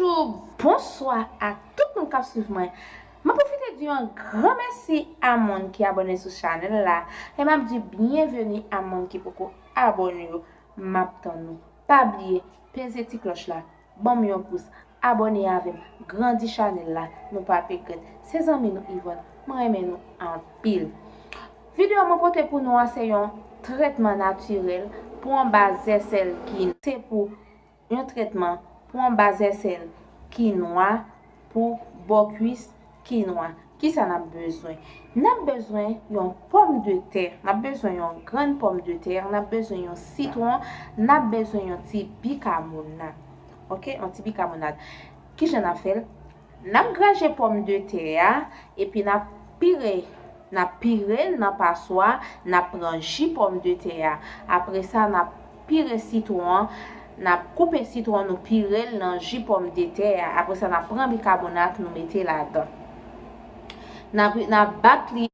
Bonjou, bonswa a tout moun kap swiv mwen. Map pwofite di yon gran mèsi a moun ki abòne sou chanèl la e map di byenveni a moun ki poko abòne yo map tann nou. Pa bliye peze ti klòch la, banm yon pous, abòne avèm, grandi chanèl la nou pap regrèt. Se zanmi nou Yvonne, mwen renmen nou anpil. Video mwen pote pou nou a se yon trètman natirèl pou anba zèsèl ginen. Se pou Yon trètman pou anba zèsèl ki nwa, pou bò kwis ki nwa. Kisa n ap bezwen? N ap bezwen yon pòm de tè, n ap bezwen yon grenn pòm de tè, n ap bezwen yon sitwon, n ap bezwen yon ti bikamonad. Ok, yon ti bikamonad. Kijan n ap fè l? Nap graje pòm de tè a epi nap pire nap pirel nan paswa nap pran ji pòm de tè a apresa nap pire sitwon an nap koupe sitwon nou pirel nan ji pòm de tè a apresa nap pran bikabonak nou mete ladan nap nap bat li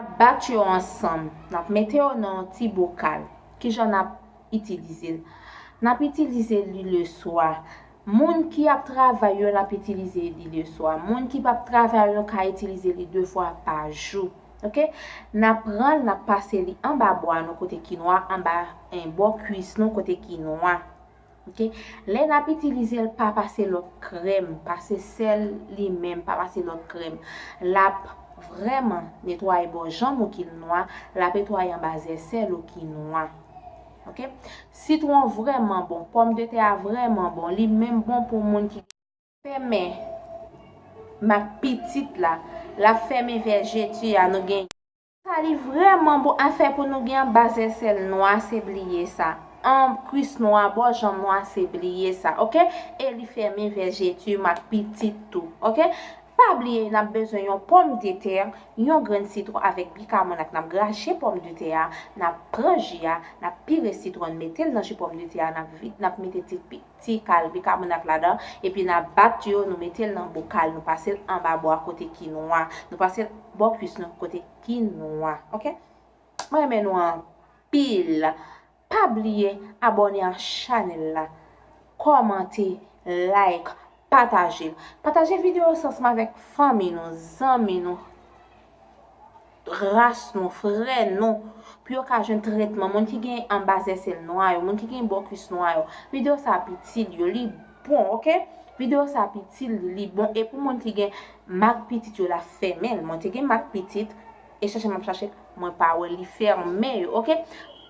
Nap bat yo ansanm. Nap mete yo nan yon ti bokal. Kijan nap itilize l? Nap itilize li leswa. Moun ki ap travay yo nap itilize li leswa. Moun ki pap travay yo ka itilize li 2 fwa pa jou. Ok. Nap pran l nap pase li anba bwa nou kote ki nwa, anba bò kwis nou kote ki nwa. Ok lè nap itilizel pa pase lòt krèm pase sèl li menm pa pase lòt krèm lap vrèman netwaye bò janm ou kil nwa lap etwaye anba zè sèl ou ki nwa ok sitwon vrèman bon pòm de tè a vrèman bon li menm bon pou moun ki fèmen mak pitit la lap fèmen vèje tu a nou gen. Sali vreman bon afè pou nou gen anba zè sèl nwa se bliye sa anb kwis nwa bò janm nwa se bliye sa ok eli fèmen vèjetum ak pitit tou ok pa bliye nap bezwen yon pòm detè yon grenn sitron avèk bikamon ak nap grache pòm detè a nap pran ji a nap pire sitron metel nan ji pòm detè a nap vide nap mete ti pi. ti kal bikabonat ladan epi na bat yo nou metel nan bokal nou pasel anba bwa kote ki nwa nou pasel bò kwis nou kote ki nwa ok mwen renmen nou anpil pa bliye abòne a chanèl la kòmante like Pataje. Pataje video sa ansanm avèk fanmi nou, zanmi nou, ras nou, frè nou pou yo ka jwenn tretman. Moun ki gen anba zèsèl nwa yo, moun ki gen bò kwis nwa yo, video sa ap itil yo, li bon ok. Video sa ap itil li, li bon e pou moun ki gen mak pitit yo la fèmen. Mwen te gen mak pitit e chache map chache mwen pa wèl li fèmen yo ok.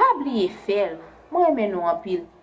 Pa bliye fèl. Mwen renmen nou anpil.